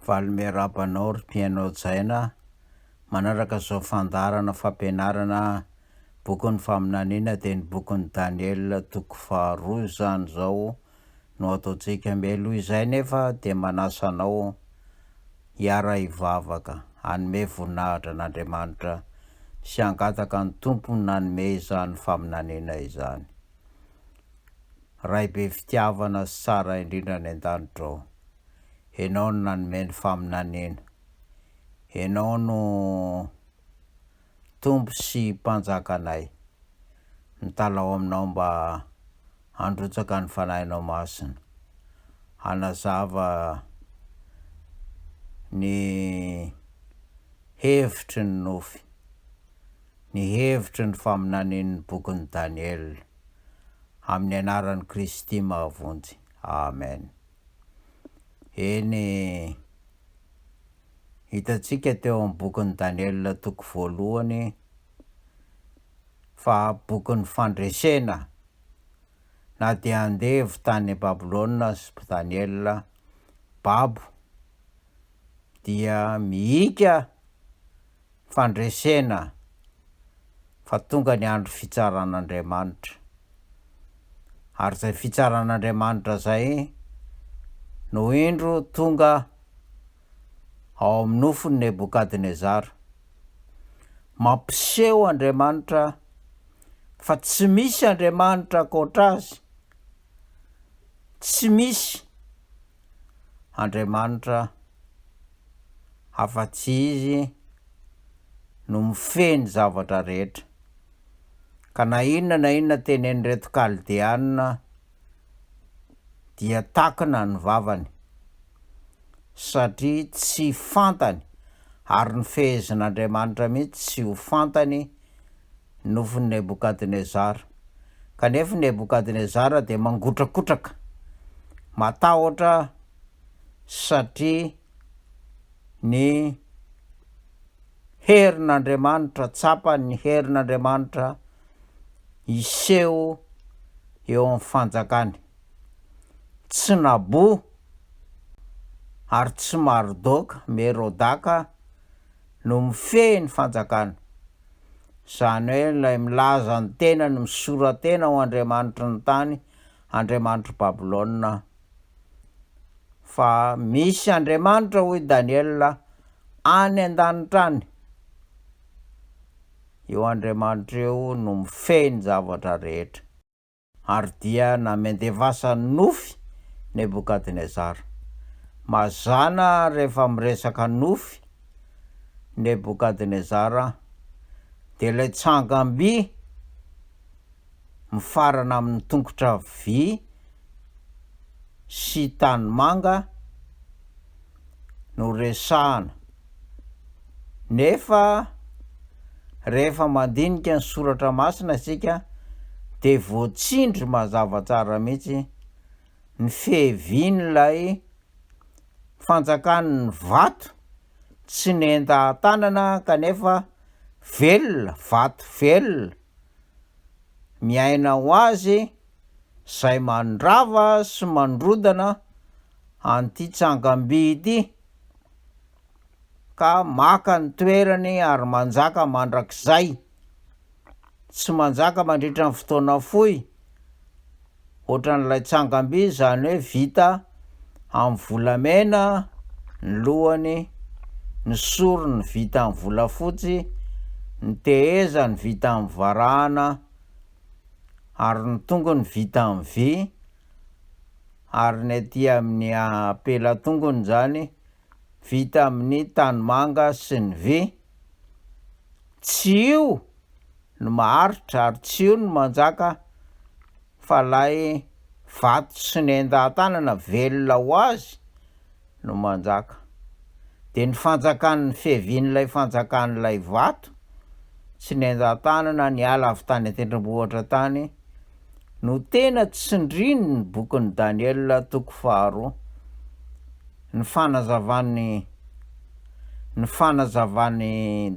Valo Miarahaba anao ry mpihaino hajaina manaraka izao fandaharana fampianarana bokin'ny faminaniana dia ny bokin'i Daniela toko faharoa izany izao no ataontsika mialoha izay nefa dia manasa anao hiara-hivavaka, hanome voninahitra an'Andriamanitra sy hangataka ny Tompo nanome izany faminaniana izany. Ray be fitiavana sy tsara indrindra any an-danitra ô, Ianao no nanome ny faminaniana, Ianao no. Tompo sy Mpanjakanay, mitalaho Aminao mba handrotsaka ny Fanahinao Masina, hanazava ny hevitry ny nofy, ny hevitry ny faminanian'ny bokin'i Daniela, amin'ny anaran'i Kristy mahavonjy. Amen. Eny e. Hitantsika teo amin'ny bokin'i Daniela toko voalohany fa bokin'ny fandresena. Na dia andevo tany Babylona aza Daniela, babo, dia mihika fandresena fa tonga ny andro fitsaran'Andriamanitra. Ary izay fitsaran'Andriamanitra izay no indro tonga ao amin'ny nofon'i Nebokadnezara. Mampiseho Andriamanitra fa tsy misy Andriamanitra ankoatra azy, tsy misy. Andriamanitra afa-tsy Izy no mifehy ny zavatra rehetra. Ka na inona na inona tenen'ireto Kaldeana dia takina ny vavany, satria tsy fantany, ary ny fehezin'Andriamanitra mihitsy tsy ho fantany nofon'i Nebokadnezara. Kanefa i Nebokadnezara dia mangotrakotraka, matahotra satria ny herin'Andriamanitra, tsapany ny herin'Andriamanitra hiseho eo amin'ny fanjakany. Tsy Nabo ary tsy Mardoka, Merodaka no mifehy ny fanjakana. Izany hoe ilay milaza ny tenany misora-tena ho andriamanitry ny tany, andriamanitr'i Babylona. Fa misy andriamanitra, hoy i Daniela, any an-danitra any. Io andriamanitra io no mifehy ny zavatra rehetra. ary dia namendevasa nofy Nebokadnezara. Mazàna rehefa miresaka nofy Nebokadnezara dia ilay tsangam-by mifarana amin'ny tongotra vy sy tanimanga, no resahana, nefa rehefa mandinika ny soratra masina isika dia voatsindry mazava tsara mihitsy ny fihevian'ilay fanjakan'ny vato tsy nentan-tanana kanefa velona, vato velona miaina ho azy, izay mandrava sy mandrodana an'ity tsangamby ity ka maka ny toerany ary manjaka mandrakizay. Tsy manjaka mandritra ny fotoana fohy ohatran'ilay tsangamby izany hoe vita amin'ny volamena ny lohany, ny sorony vita amin'ny volafotsy, ny tehezany vita amin'ny varahana, ary ny tongony vita amin'ny vy ary ny aty amin'ny apelan-tongony izany vita amin'ny tanimanga sy ny vy. Tsy io no maharitra ary tsy io no manjaka fa ilay vato sy ny endan-tanana velona ho azy no manjaka. Dia ny fanjakan'ny fiavian'ilay fanjakan'ilay vato tsy nenjan-tanana niala avy tany an-tendrombohitra tany no tena tsindrin'ny bokin'i Daniela toko faharoa. Ny fanazavan'i ny fanazavan'i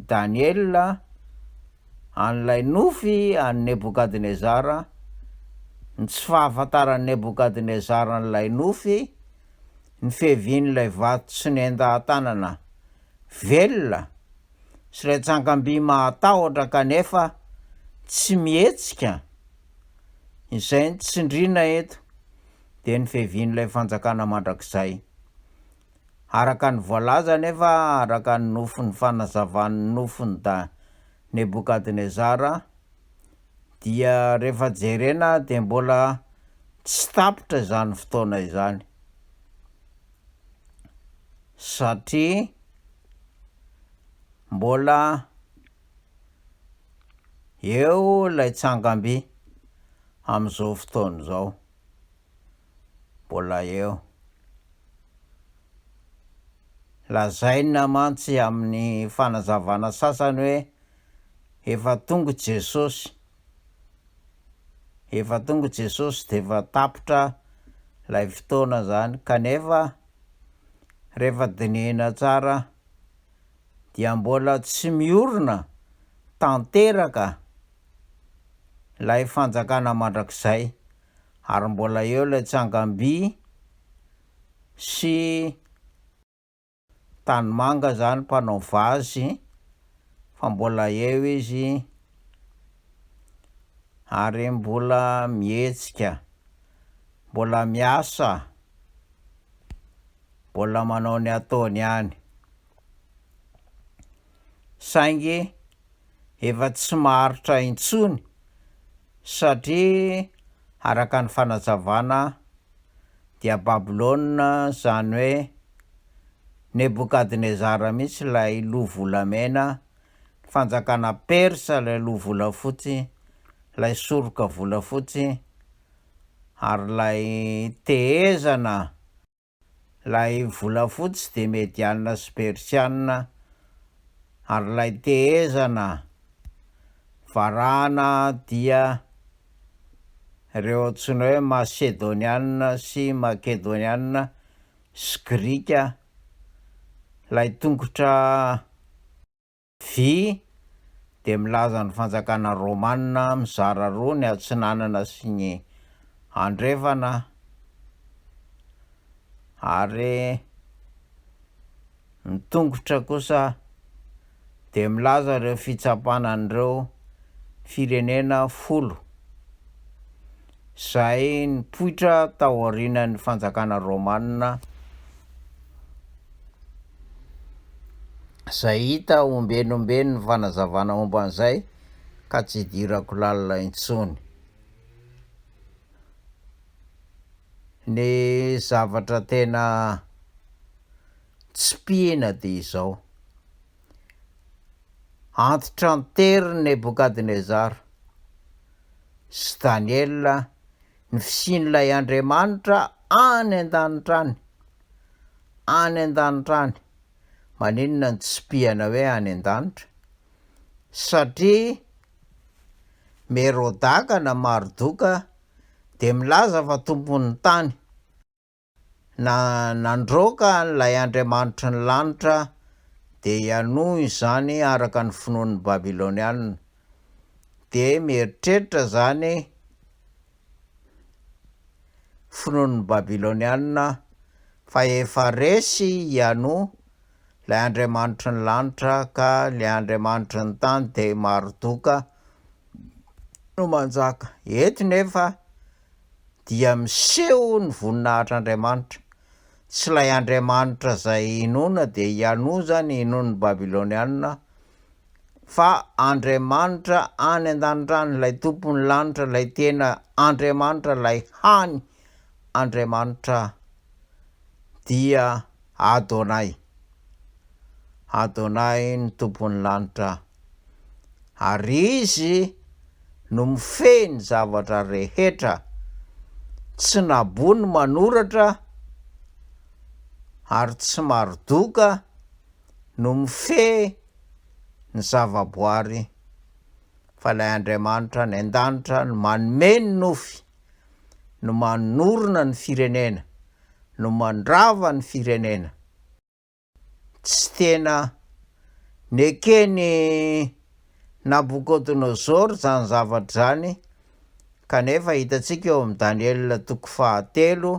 Daniela an'ilay nofy an'i Nebokadnezara, ny tsy fahafantaran'i Nebokadnezara an'ilay nofy ny fiavian'ilay vato tsy nendahan-tanana velona sy ilay tsangamby mahatahotra kanefa tsy mihetsika izay no tsindriana eto dia ny fiavian'ilay fanjakana mandrakizay. Araka ny voalaza anefa araka ny nofin'ny fanazavan'ny nofin'i da Nebokadnezara, dia rehefa jerena dia mbola tsy tapitra izany fotoana izany satria mbola eo ilay tsangamby amin'izao fotoana izao, mbola eo. Lazaina mantsy amin'ny fanazavana sasany hoe. Efa tonga Jesosy Efa tonga Jesosy dia efa tapitra ilay fotoana izany kanefa rehefa dinihina tsara dia mbola tsy miorina tanteraka ilay fanjakana mandrakizay ary mbola eo ilay tsangamby sy Tanimanga zany mpanao vazy fa mbola eo izy ary mbola mihetsika, mbola miasa, mbola manao ny ataony ihany. saingy efa tsy maharitra intsony satria araka ny fanazavana dia Babylona izany hoe Nebokadnezara mihitsy ilay loha volamena, ny fanjakana persa ilay loha volafotsy, ilay soroka volafotsy ary ilay tehezana Ilay volafotsy dia medianina sy persianina ary ilay tehezana varahana dia ireo antsoina hoe masedonianina sy makedonianina sy grika, ilay tongotra. Vii, dia milaza ny fanjakana romana mizara roa ny atsinanana sy ny andrefana ary ny tongotra kosa dia milaza ireo fitsapana an'ireo firenena folo izay nipoitra taorianan'ny fanjakana Romana, izay hita ombenomben ny fanazavana momba an'izay ka tsy idirako lalina intsony. Ny zavatra tena tsipihina dia izao. Antitra an-tery Nebokadnezara sy Daniela ny fisian'ilay Andriamanitra any an-danitra any. Any an-danitra any. Maninona no tsipihana hoe any an-danitra? Satria Merodaka na Mardoka dia milaza fa tompon'ny tany. Na nandroaka an'ilay andriamanitry ny lanitra, dia hianoa izany araka ny finoan'ny Babylonianina. Dia mieritreritra izany finoan'ny Babylonianina fa efa resy hianoa ilay andriamanitry ny lanitra ka ilay andriamanitry ny tany dia Mardoka no manjaka. Eto nefa dia miseho ny voninahitr'Andriamanitra. Tsy ilay Andriamanitra izay inoana dia ihanoa izany inoan'ny Babylonianina fa Andriamanitra any an-danitra ilay tompon'ny lanitra, ilay tena Andriamanitra, ilay hany Andriamanitra dia Adonai. Adonai ny tompon'ny lanitra. ary Izy no mifehy ny zavatra rehetra, tsy nabo ny manoratra ary tsy Mardoka no mifehy ny zavaboary fa ilay Andriamanitra any an-danitra no manome ny nofy, no manorina ny firenena, no mandrava ny firenena. Tsy tena neken'i Nabokodonosoro izany zavatra izany, kanefa hitantsika eo amin'i Daniela toko fahatelo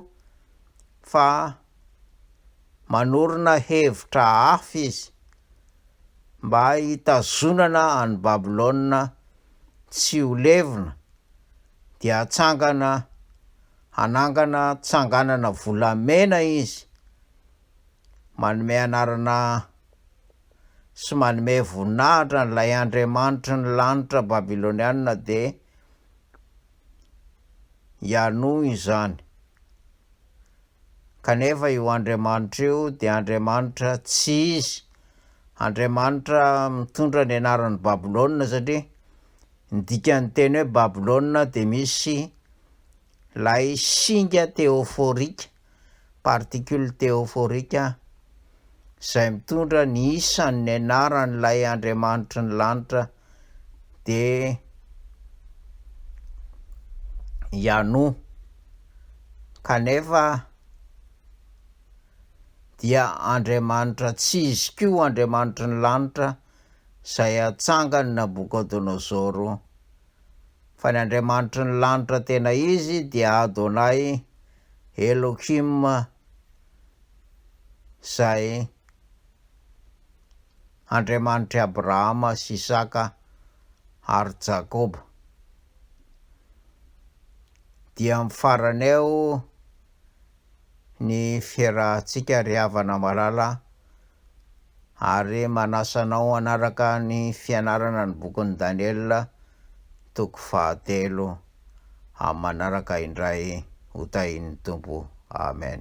fa manorina hevitra hafa izy mba hitazonana an'i Babylona tsy ho levona, dia hatsangana hanangana tsanganana volamena izy, manome anarana sy manome voninahitra an'ilay andriamanitry ny lanitra babylonianina dia hianoa izany. Kanefa io andriamanitra io dia andriamanitra tsy izy, andriamanitra mitondra ny anaran'ny Babylona satria ny dikan'ny teny hoe Babylona dia misy lay singa teoforika particules théophoriques, izay mitondra ny isan' ny anaran' ilay andriamanitry ny lanitra, dia i Anu, kanefa dia andriamanitra tsy izy koa andriamanitry ny lanitra izay atsangan' i Nabuchodonosor Fa ny Andriamanitry ny lanitra tena izy dia Adonai Elohim izay Andriamanitr'i Abrahama sy Isaka ary Jakoba. Dia amin'ny farany eo ny fiarahantsika ry havana malala ary manasa anao hanaraka ny fianarana ny bokin'i Daniela toko fahatelo amin'ny manaraka indray ho tahin'ny Tompo. Amen.